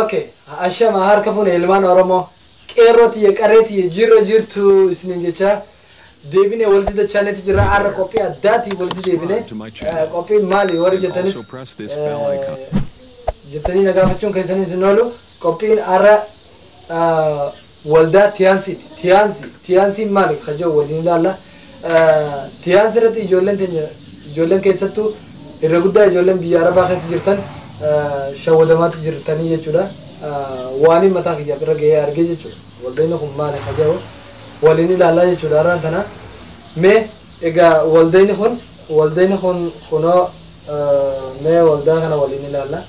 ok ashama harka fuune ilmaan oromoo qeerroo tiyya qarree tiyya jirra jirtu isinin jecha deebine walitti dachaanetti jirra har'a qophii addaatiin walitti deebine Eh, qophiin maali warri jettanis eh, jettanii na gaafachuun keessaniin isin oolu qophiin har'a eh, Waldaa Tiyaansiiti. Tiyaansi, Tiyaansiin maali kan jedhu waliin ilaalla. Tiyaansi irratti ijoolleen teenya ijoolleen keessattuu irra guddaa ijoolleen biyya Arabaa keessa jirtan shawwadamaatti jirtanii jechuudha. Waaniin mataa kiyyaaf irra ga'ee argee jechuudha. Waldeenni kun maali kan jedhu waliin ilaallaa jechuudha har'aan tana. Mee egaa waldeenni kun waldeenni kun kunoo mee waldaa kana waliin ilaalla.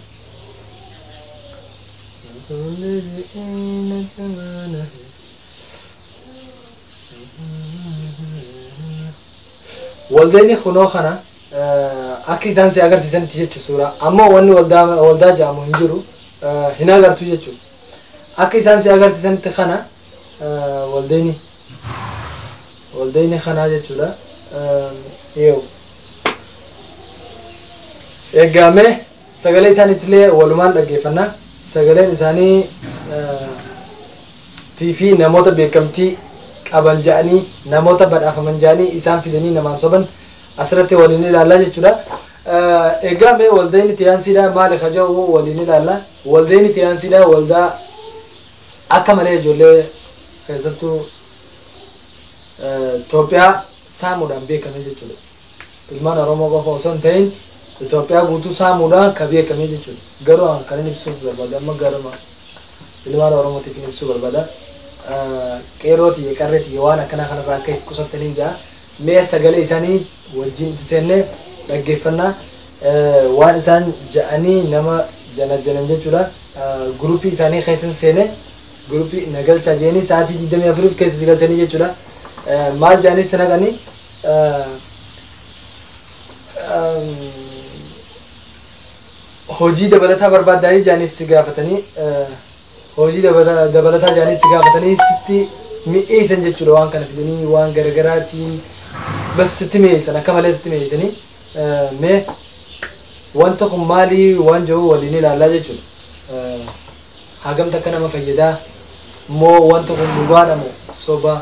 Waldayni kunoo kana akka isaan si agarsiisanitti jechuun suuraa amma wanni waldaa waldaa jedhamu hin jiru hin agartu jechuun akka isaan si agarsiisanitti kana waldayni waldayni kanaa jechuudha yoo eegamee. Sagalee isaaniitilee walumaan dhaggeeffanna. Sagaleen isaanii tii fi namoota beekamtii qaban ja'anii namoota badhaafaman ja'anii isaan fidanii namaan soban asirratti waliin ilaallaa jechuudha. Egaa mee waldayni tiyaansiidhaa maali ka ja'u waliin ilaalla. Waldayni tiyaansiidhaa waldaa akka malee ijoollee keessattuu Itoophiyaa saamuudhaan beekame jechuudha. ilmaan Oromoo qofa osoo hin ta'in Itoophiyaa guutuu saamuudha ka beekame jechuudha. Garuu an kanin ibsuuf barbaade amma garuma ilmaan Oromootiitiin ibsuu barbaada. Qeerroo tiyya qarree tiyya waan akkanaa kanarraa akka if qusattaniin ja'a. Mee sagalee isaanii wajjin itti seennee dhaggeeffannaa waan isaan ja'anii nama janajjanan jechuudha. Guruppii isaanii keessan seenee guruppii na galchaa jedhanii sa'aatii 24f keessa si galchanii jechuudha. Maal ja'anii si naqanii hojii dabalataa barbaaddaa jaanis si gaafatanii hojii dabalataa jaanis si gaafatanii sitti mi'eessan jechuudha waan kana fidanii waan garagaraatiin bas sitti mi'eessan akka malee sitti mi'eessanii mee wanta kun maalii waan jiru waliin ilaallaa jechuudha. Hagamta akka nama fayyadaa moo wanta kun dhugaadha moo sobaa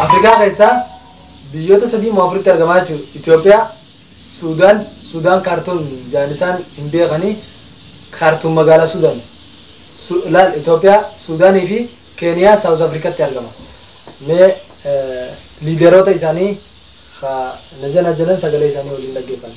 Afrikaa keessaa biyyoota sadii moo afuritti argamaa jiru. Itoophiyaa, Suudaan, Suudaan kaartuum jaan isaan hin beekanii kaartuum magaalaa Suudaan. Su- Laal Itoophiyaa, Suudaanii fi Keeniyaa Saawus Afrikatti argama. Mee eh, liideroota isaanii ka na jana jedhan sagalee isaanii waliin dhaggeeffanna.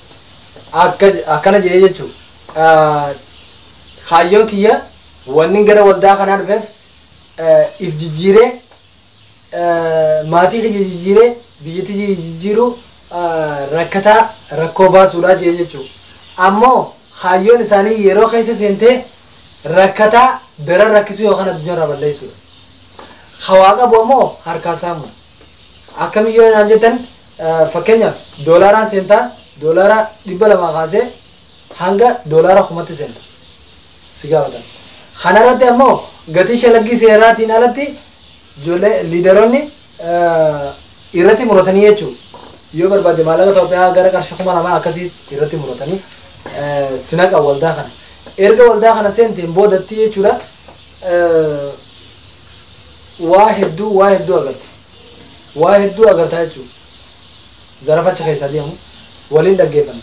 akka akkana jedhee jechuun kaayyoon kiyya wanni gara waldaa kanaa dhufeef eh, if jijjiiree eh, maatii kiyya jijjiiree biyyatti kiyya jijjiiruu eh, rakkataa rakkoo baasuudhaa jee jechuu ammoo kaayyoon isaanii yeroo keessa seentee rakkataa daran rakkisuu yookaan addunyaa irraa balleessuudha. Hawaa qabu ammoo harkaa saamudha. Akkamiyyoo naan jettan fakkeenyaaf doolaaraan seentaa doolaara dhibba lamaa kaasee hanga doolaara kumatti seenta si gaafatan. Kanarratti ammoo gatii shalaggii seeraatiin alatti ijoollee liidaroonni irratti muratanii jechuudha. Yoo barbaadde maallaqa Itoophiyaa gara qarshii kuma lamaa akkasii irratti muratanii sinaqa waldaa kana. Erga waldaa kana seenteen boodatti jechuudha waa hedduu waa hedduu agarta waa hedduu agartaa jechuudha zarafa achi keessaa deemu waliin dhaggeeffanna.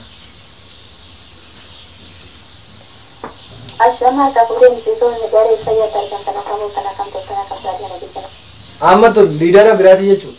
Ashama harkaa fuudhee miseensonni garee fayyaatti argamtan akka mooftan akkam toltan akkam taate kana beektan. Amma tun liidara biraati jechuudha.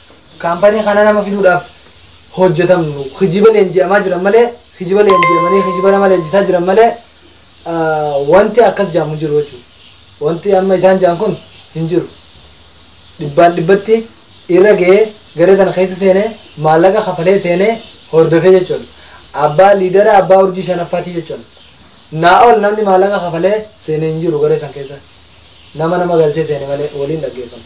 Kaampanii kana nama fiduudhaaf hojjetamnu kijiba leenji'amaa jiran malee kijiba leenji'amanii kijiba nama leenjisaa jiran malee wanti akkas jaamu jiru jechuudha. Wanti amma isaan jaan kun hin jiru. Dhibbaan dhibbatti irra ga'ee garee kana keessa seenee maallaqa kafalee seenee hordofee jechuudha. Abbaa liidara abbaa urjii shanaffaati jechuudha. Naa ol namni maallaqa kafalee seenee hin jiru garee san keessa. Nama nama galchee seene malee waliin dhaggeeffanna.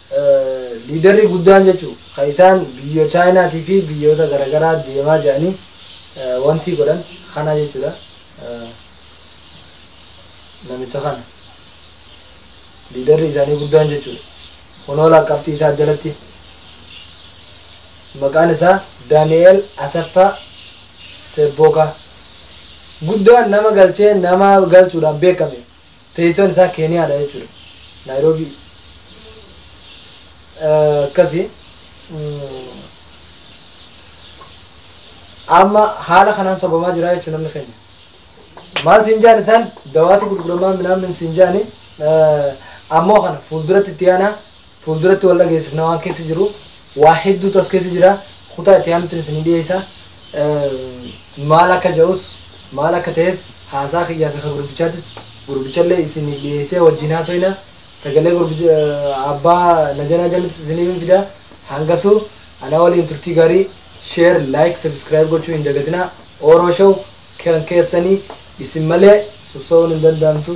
Liidarri guddaan jechu ka isaan biyyo Chaayinaatii fi biyyoota garagaraa deemaa jedhanii wantii godhan kana jechuudha. Namicha kana. Liidarri isaanii guddaan jechuudha. Kunoo lakkaftii isaa jalatti maqaan isaa Daani'eel Asaffaa Sebbookaa. Guddaan nama galchee nama galchuudhaan beekame. Teessoon isaa Keeniyaadha jechuudha. Naayiroobii. Akkasi. Amma haala kanaan sabamaa jira jechuudha namni keenya. Maal siin jaan isaan dawaatu gurguramaa minaamin siin jaani ammoo kana fuulduratti itti aanaa Fuulduratti wal dhageessifna waan keessa jiruuf waa hedduutu as keessa jira kutaa itti aanutti isin dhiyeessa maal akka ja'us maal akka ta'es haasaa kiyyaa fi ka gurbichaatis gurbichallee isin dhiyeessee wajjin haasoyna sagalee gurbicha abbaa najanaa jalutis isiniif fida hangasuu anaa waliin turtii gaarii sheer laayik sabiskiraayib gochuu hin dagatinaa ooroo show kan keessanii isin malee sossoo'uun hin danda'amtu